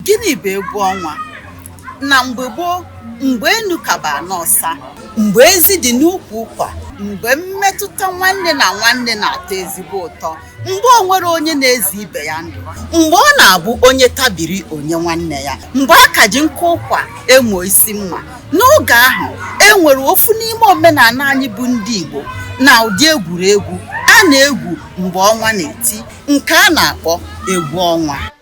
Gịnị bụ egwu ọnwa? Na mgbe gboo, mgbe enu ka bụ ana ọsa, mgbe ezi dị n'ukwu ụkwa, mgbe mmetụta nwanne na nwanne na-atọ ezigbo ụtọ, mgbe o nwerọ onye na-eze ibe ya ndụ, mgbe ọ na-abụ onye tabiri o nye nwanne ya, mgbe a ka ji nkụ ụkwa emo isi mma. N'oge ahụ, e nwere ofu n'ime omenaana anyị bụ ndị Igbo na ụdị egwuregwu a na-egwu mgbe ọnwa na-eti nke a na-akpọ egwu ọnwa.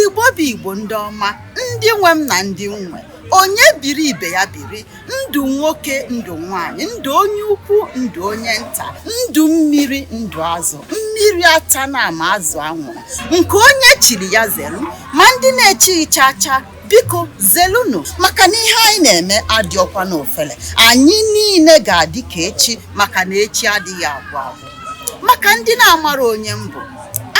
igbo bụ igbo ndị ọma ndị nwe m na ndị m nwe onye biri ibe ya biri ndụ nwoke ndụ nwanyị ndụ onye ukwu ndụ onye nta ndụ mmiri ndụ azụ mmiri atana ma azụ anwụrụ nke onye chiri ya zelu ma ndị na-echighị cha cha biko zelunu maka na ihe anyị na-eme adịọkwa n'ofele anyị niile ga-adị ka echi maka na echi adịghị agwụ agwụ maka ndị na-amarọ onye m bụ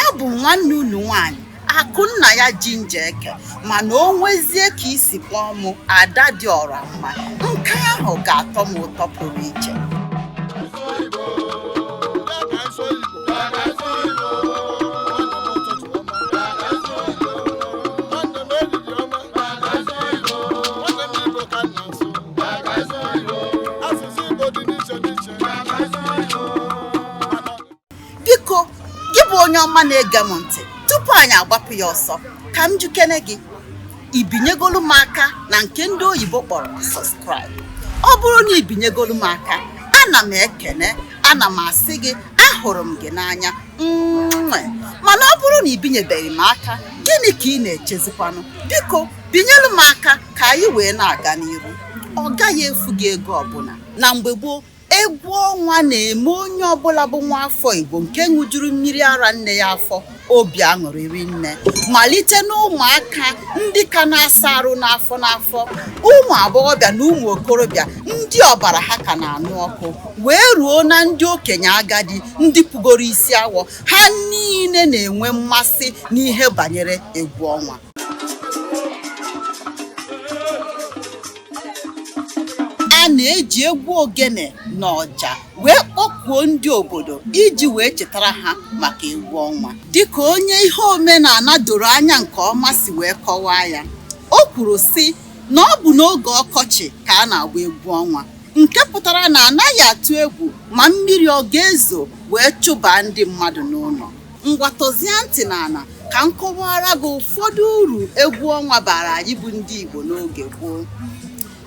abụ m nwanne unu nwaanyị Akụnnaya Ginger Eke mana o nwezie ka i si kpọọ mụ ada dị ọra mma nke ahụ ga-atọ m ụtọ pụrụ iche biko gị bụ onye ọma na-ege m ntị tupu anyị agbapụ ya ọsọ ka m jụkene gị i binyegolu m aka na nke ndị oyibo kpọrọ subscribe ọ bụrụ na i binyegolu m aka ana m ekene ana m asị gị ahụrụ m gị n'anya nwe mana ọ bụrụ na i binyebeghị m aka gịnị ka ị na-echezikwanụ biko binyelu m aka ka anyị wee na-aga n'iru ọ gaghị efu gị ego ọbụla na mgbe gboo egwu ọnwa na-eme onye ọbụla bụ nwa afọ Igbo nke ṅụjuru mmiri ara nne ya afọ obi aṅụrị rinne malite n'ụmụaka ndị ka na-asa arụ n'afọ n'afọ ụmụ agbọghọbịa na ụmụ okorobịa ndị ọbara ha ka na-anụ ọkụ wee ruo na ndị okenye agadi ndị pụgoro isi awọ ha niile na-enwe mmasị n'ihe banyere egwu ọnwa a na-eji egwu ogene na ọja wee kpọkuo ndị obodo iji wee chetara ha maka egwu ọnwa dịka onye ihe omenaana doro anya nke ọma si wee kọwaa ya o kwuru sị na ọ bụ n'oge ọkọchị ka a na-agba egwu ọnwa nke pụtara na anaghị atụ egwu ma mmiri ọ ga-ezo wee chụbaa ndị mmadụ n'ụlọ ngwa tọzie ntị n'ala ka m kọwara gị ụfọdụ uru egwu ọnwa bara anyị bụ ndị Igbo n'oge gboo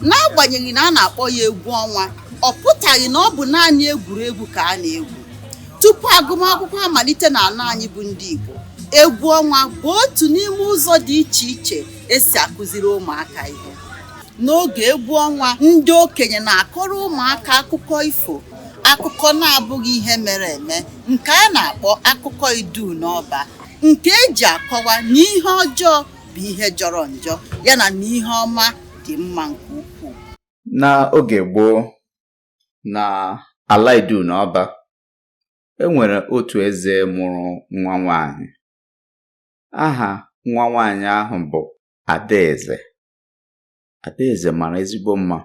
n'agbanyeghị na a na-akpọ ya egwu ọnwa ọ pụtaghị na ọ bụ naanị egwuregwu ka a na-egwu tupu agụmakwụkwọ amalite n'ala anyị bụ ndị Igbo egwu ọnwa bụ otu n'ime ụzọ dị iche iche esi akụziri ụmụaka ihe n'oge egwu ọnwa ndị okenye na-akọrọ ụmụaka akụkọ ifo akụkọ na-abụghị ihe mere eme nke a na-akpọ akụkọ iduu na ọba nke eji akọwa na ihe ọjọọ bụ ihe jọrọ njọ yana na ihe ọma dị mma nke ukwuu n'oge gboo na ala iduu na ọba e nwere otu eze mụrụ nwa nwanyị aha nwa nwanyị ahụ bụ adaeze Adaeze mara ezigbo mma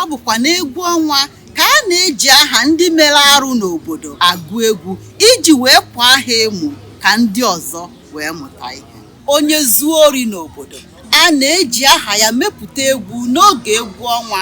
ọ bụkwa n'egwu ọnwa ka a na-eji aha ndị mere arụ n'obodo agụ egwu iji wee kwaa ha emu ka ndị ọzọ wee mụta ihe onye zuo ori n'obodo a na-eji aha ya mepụta egwu n'oge egwu ọnwa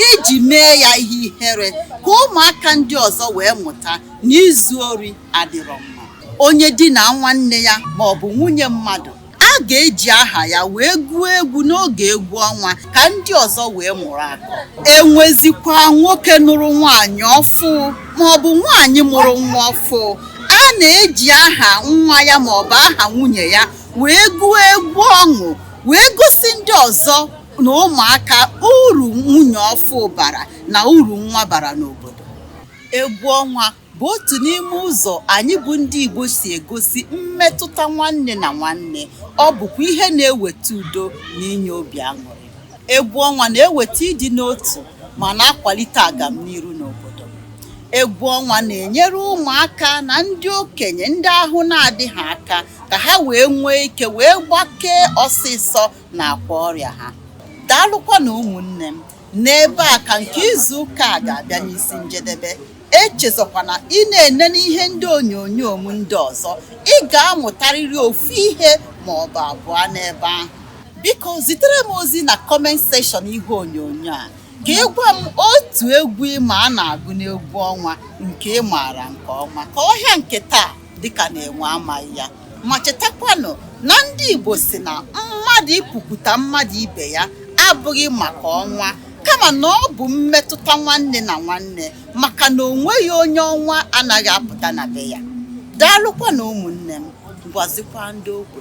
iji mee ya ihe ihere ka ụmụaka ndị ọzọ wee mụta na izu ori adịrọ mma onye dinaa nwanne ya ma ọ bụ nwunye mmadụ a ga-eji aha ya wee gụọ egwu n'oge egwu ọnwa ka ndị ọzọ wee mụrụ akọ enwezikwa nwoke nụrụ nwaanyị ọfụ maọbụ nwaanyị mụrụ nwa ọfụ a na-eji aha nwa ya maọbụ aha nwunye ya wee gụọ egwu ọṅụ wee gosi ndị ọzọ na ụmụaka uru nwunye ọfụ bara na uru nwa bara n'obodo egwu ọnwa bụ otu n'ime ụzọ anyị bụ ndị Igbo si egosi mmetụta nwanne na nwanne ọ bụkwa ihe na-eweta udo na inye obi aṅụrị egwu ọnwa na-eweta ịdị n'otu ma na-akwalite agamniru n'obodo egwu ọnwa na-enyere ụmụaka na ndị okenye ndị ahụ na-adịghị aka ka ha wee nwee ike wee gbakee ọsịsọ n'akwa ọrịa ha daalụkwanụ ụmụnne m N'ebe a ka nke izu ụka a ga-abịa n'isi njedebe. Echezọkwana ị na-enene ihe ndị onyonyo m ndị ọzọ. Ị ga-amụtarịrị ofu ihe ma ọ bụ abụọ n'ebe ahụ. Biko zitere m ozi na comment section ihe onyonyo a ka ị gwa m otu egwu ị ma a na-agụ n'egwu ọnwa nke ị maara nke ọma. Ka ọhịa nke taa dịka na enwe amaghị ya ma chetakwanụ na ndị Igbo sị na mmadụ ịpụkwute mmadụ ibe ya abụghị maka ọnwa kama na ọ bụ mmetụta nwanne na nwanne maka na o nweghị onye ọnwa anaghị apụta na be ya daalụkwanụ ụmụnne m gwazikwa ndị ogbe